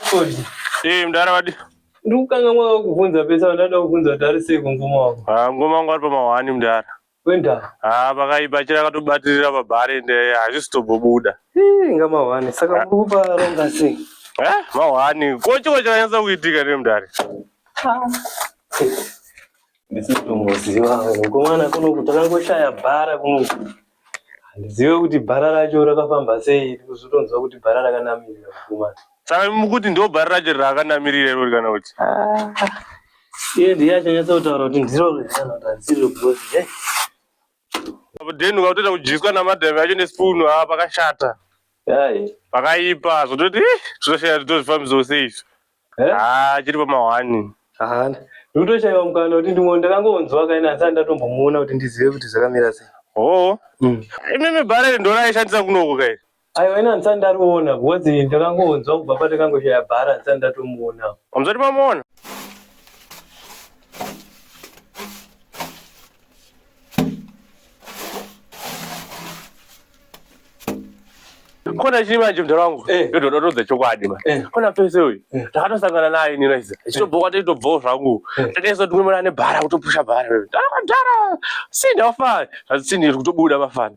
Chikondi. Eh, mdara wadi. Ndikukanga mwaka kuvhunza pesa ndada kuvhunza kuti ari sei kungoma wako. Ah, ngoma wangu ari pamahwani mdara. Kuenda. Ah, pakaipa chira akatobatirira pabhari ende hazvisi tobobuda. Ih, inga mahwani. Saka muri kupa ronga sei? Eh, mahwani. Ko chiko chakanyatsa kuitika ne mdari. Ndisitomuziva wewe. Kumwana kunoku takangoshaya bhara kunoku. Handizive kuti bhara racho rakafamba sei. Kuzotonzwa kuti bhara rakanamirira kumwana. Saka mukuti ndo bhari racho raakanamirira irori kana kuti. Ah. Iye ndiye achanyatsa kutaura kuti ndiro rinotarisirwa because hey. Eh. Apo then ukatoita kudyiswa namadhave acho nespoon ha ah, pakashata. Yayi. Pakaipa zvototi eh zvinoshaya zvitozvifambiso sei izvi. Eh? Ah chiri pamahwani. Ah. Ndikutoshaiwa mukana kuti ndimwe ndakangonzwa kaina asi andatombomuona kuti ndizive kuti zvakamira sei. Oh. Mm. Imimi bhari ndoraishandisa kunoko kai. Aiwa ina ndisati ndariona because ndakangonzwa kubva patakangoshaya bhara ndisati ndatomuona. Hamuzoti mamuona? kona chiri manje mdara wangu eh. ndoda todza chokwadi ma eh. kona pese uyu eh. takatosangana naye ini raisa ichitobhoka taitobvawo zvangu takaisa tumwe mwana nebhara kutopusha bhara ndara sini afana zvazisini kutobuda mafana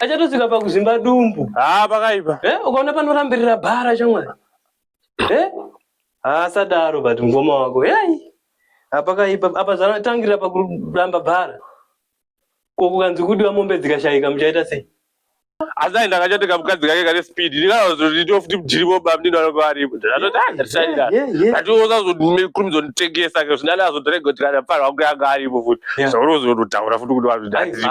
achatosvika pakuzvimba dumbu haa ah, pakaipa eh, ukaona panorambirira bhara chamwari eh? haasadaro ah, but mukoma wako yai ah, pakaipa apa zvatangirira pakuramba bhara ko kukanzi kudiwa mombe dzikashayika muchaita sei asi aenda akachati kamukadzi kake kane speed ndikazozvitio futi mujiripo baba ndino anenge aripo atoti andisaida ati osazokurumidza nditengesa ke zvinani azotorega kuti kana mfana wangu yanga aripo futi zvaurozondotaura futi kuti wazvidaziripo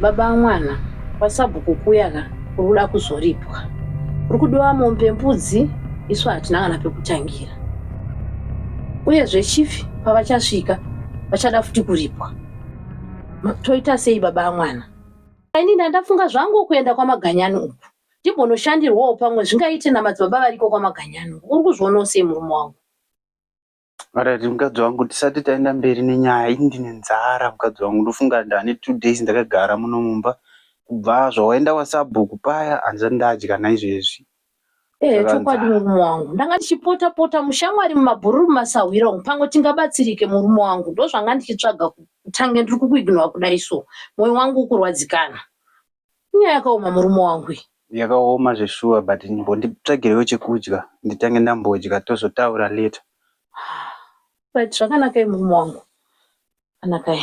Baba amwana kwasabhuku kuya ka uri kuda kuzoripwa. Uri kudiwa mombe mbudzi isu hatina kana pekutangira. Uyezve chief pavachasvika vachada futi kuripwa. Toita sei baba amwana? Ini ndandafunga zvangu kuenda kwamaganyani uku. Ndimbonoshandirwawo pamwe zvingaite namadzibaba variko kwamaganyani. Uri kuzvionawo sei murume wangu? Alright mukadzi wangu tisati taenda mberi nenyaya ini ndine nzara mukadzi wangu ndofunga ndane two days ndakagara muno mumba kubva zvawaenda kwasabhuku paya handisati ndadya naizvezvi Eh, Saka chokwadi nzara. murume wangu ndanga ndichipota pota mushamwari mumabhururu mumasahwira umu pamwe tingabatsirike murume wangu ndozvanga ndichitsvaga kutange ndiri kukuignora kudai so mwoyo wangu ukurwadzikana Inyaya yakaoma murume wangu iyi. Yakaoma zveshuwa but mbonditsvagirewo chekudya nditange ndambodya tozotaura later. But zvakanakai murume wangu anakai.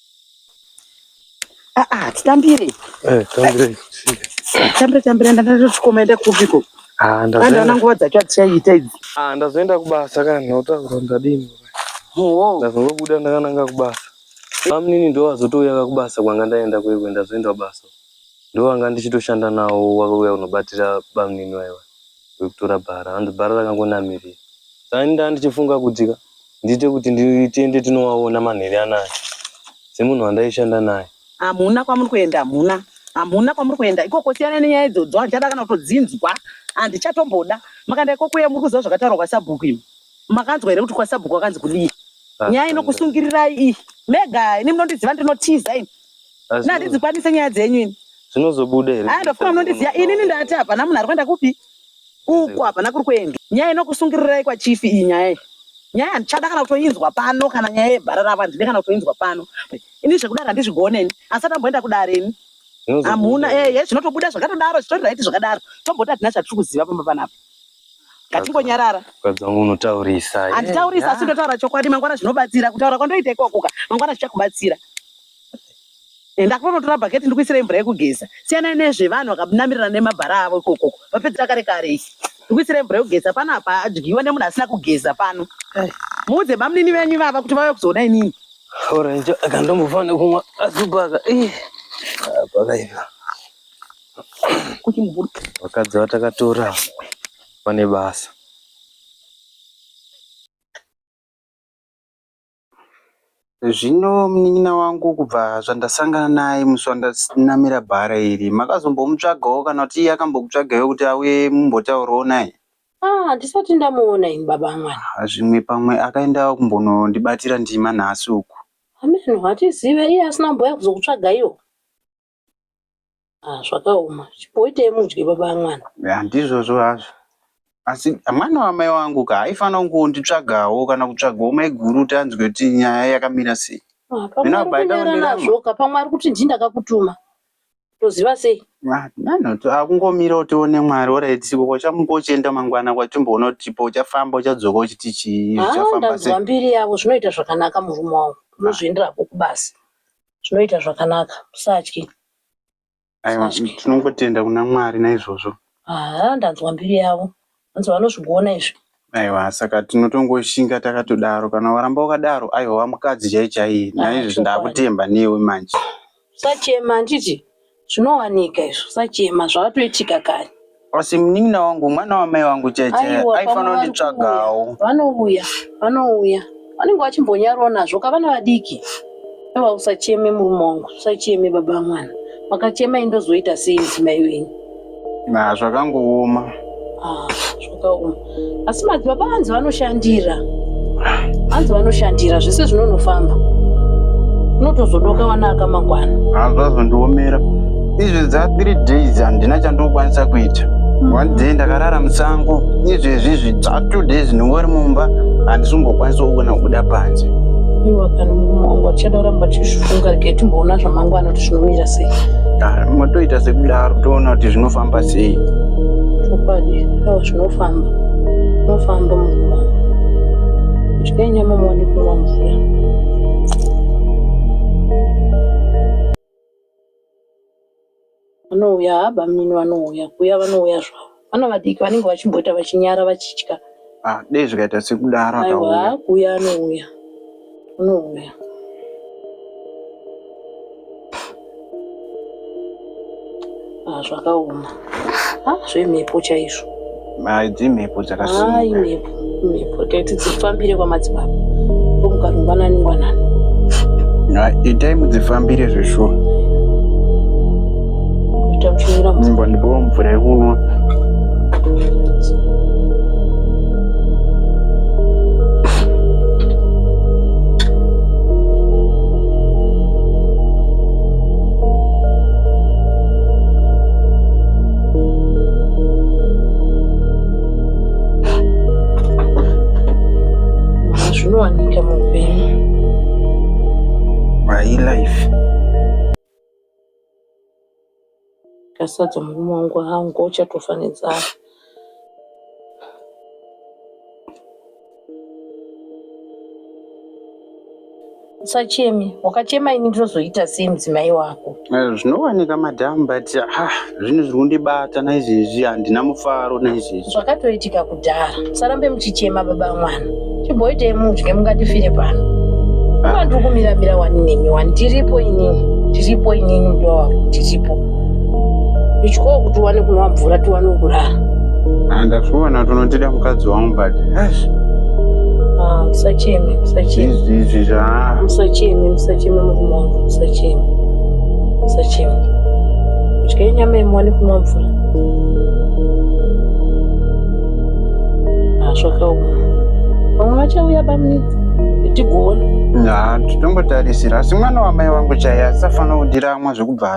Ah, ah, titambire. Eh, tambire. Tambire, tambire, ndatotsikoma enda kupiko. Ah, ndazoenda. Ndaona nguva dzacho atichaita idzi. Ah, ndazoenda kubasa kana nhota kuronda dini. Oh. Ndazongobuda ndakananga kubasa. Amnini ndo wazotouya kakubasa kwanga ndaenda kwekwe ndazoenda kubasa. Ndo wanga ndichitoshanda nawo wakauya kunobatira bamnini waiwa. wekutora bhara hanzi bhara rakangonamirira saka ini ndanga ndichifunga kuti ka ndiite kuti tiende tinowaona manheru anaya semunhu wandaishanda naye hamuna kwamuri kuenda hamuna hamuna kwamuri kuenda ikoko siyana nenyaya idzodzo handichada kana kutodzinzwa handichatomboda makanda ikoko uye muri kuziva zvakataurwa kwasabhuku imi makanzwa here kuti kwasabhuku wakanzi kudii nyaya inokusungirirai iyi mega ini munondiziva ndinotiza ini Asi Nda handidzikwanise nyaya dzenyu ini. zvinozobuda here? Haa ndofuna munondiziva inini ndati hapana munhu ari kuenda kupi. Uko hapana kuri kuendwa. Nyaya inokusungirirai kwa chief iyi nyaya iyi. Nyaya handichada kana kutoinzwa pano kana nyaya yebhara ravo handide kana kutoinzwa pano. Ini zvekudare handizvigone ini. Asi atamboenda kudare ini. Zvinozobuda Hamuna here? ehe zvinotobuda zvakatodaro zvitori right zvakadaro. Tomboti hatina chatiri kuziva pamba panapa. Ngatingonyarara. Mukadzi wangu unotaurisa. handitaurisa asi ndotaura chokwadi mangwana zvinobatsira kutaura kwandoita ikoko ka mangwana zvichakubatsira Enda kunotora bucket ndikuisire mvura yekugeza. Siyana nezve vanhu vakanamirira nemabhara avo ikoko. Vapedzera kare kare isi. Ndikuisire mvura yekugeza pano apa adyiwa nemunhu asina kugeza pano. Muudze bamnini venyu vava kuti vave kuzoona inini. Orange akandombofa nekumwa azubaka. Eh. Pakaipa. Kuti mvura. Vakadzi vatakatora vane basa. Zvino munin'ina wangu kubva zvandasangana naye musi wandanamira bhara iri makazombomutsvagawo kana kuti iye akambokutsvagaiwo kuti auye mumbotaurawo naye? Ah, handisati ndamuona ini baba mwana. Ah, zvimwe pamwe akaendawo kumbonondibatira ndima nhasi uku. Hameno, hatizive iye asina kumboya kuzokutsvagaiwo. Ah, zvakaoma chipoitei mudye baba amwana Ya, ndizvozvo hazvo asi mwana wamai wangu ka aifanira kungonditsvagawo kana kutsvagawo maiguru kuti anzwe kuti nyaya yakamira sei Ah, pamwe Mina ari baba kunyara ndaonera nazvo ka pamwe ari kuti ndii ndakakutuma toziva sei Ah, nano to- akungomirawo tione mwari oraitiko kwachambo uchienda mangwana kwatimboona kuti chipo uchafamba uchadzoka uchiti chii Ah, zvichafamba ndanzwa sei mbiri yavo zvinoita zvakanaka murume wangu unozviendera hako kubasa zvinoita zvakanaka usatye aiwa tinongotenda kuna mwari naizvozvo haa ndanzwa mbiri yavo anzi vanozvigona izvi aiwa saka tinotongoshinga takatodaro kana waramba wakadaro aiwa wamukadzi chai chaiye naizvozvo ndakutemba newe manje usachema handiti Zvinowanika izvo usachema zvakatoitika kare. Asi munin'ina wangu mwana wamai vangu chaiye chaiye Aiwa, pamwe aifanira vari kunditsvagawo. kuuya. Vanouya, vanouya. Vanenge vachimbonyarawo nazvo ka vana vadiki. Aiwa usacheme murume wangu, usacheme baba vamwana. Makachema ini ndozoita sei mudzimai wenyu? Na zvakangooma. Ah, zvakaoma. Asi madzibaba vanzi vanoshandira. Vanzi vanoshandira zvese zvinonofamba. Unotozodoka vana akamangwana. Ah, zvazondiomera. Izvi dza 3 days handina chandokwanisa kuita. Mm. One day ndakarara musango. Izvi izvi dza 2 days ndingori mumba handisi kungokwanisa kuona kubuda panze. Iwe kana mumwe wangu achada kuramba chizvifunga rega timboona zvamangwana. zvinomira sei matoita sekudaro toona kuti zvinofamba sei chokwadi awa zvinofamba unofamba mukuma udyai nyama muwane kunwa mvura vanouya bamnini vanouya kuya vanouya zvavo Vana vadiki vanenge vachimboita vachinyara vachitya. Ah, dei zvikaita sekudaro akauya. Aiwa, kuuya anouya. Anouya. Ah, zvakaoma. Ah, zvemhepo chaizvo. Ah, dzimhepo dzakasimuka. Ah, imhepo. mhepo taiti dzifambire kwamadzibaba omuka rungwanani ngwanani itai mudzifambire zveshuwa mbo ndipowo mvura yekunwa zvinowanika muupenyu my life kasadza murume wangu hangu uchatofanidza usacheme wakachema ini ndinozoita sei mudzimai wako eh, zvinowanika madam but ah, zvinhu zviri kundibata naizvezvi handina mufaro naizvezvi zvakatoitika kudhara musarambe muchichema baba mwana chimboitei mudye mungatifire pano ah. uma ndiri kumiramira wani nemi wani tiripo inini tiripo inini mdiwa wako tiripo ichikoo kuti uwane kunwa mvura tiwane kurara ah, ndazviona tonotida mukadzi wangu but ah, musacheme musacheme izvi zva musacheme musacheme murume wangu musacheme musacheme kudya nyama yemuwane kunwa mvura ah, zvakaoma vamwe vachauya bamnini tigoona ha titongotarisira asi mwana wamai wangu chaiye asisafanira kudira amwe zvekubva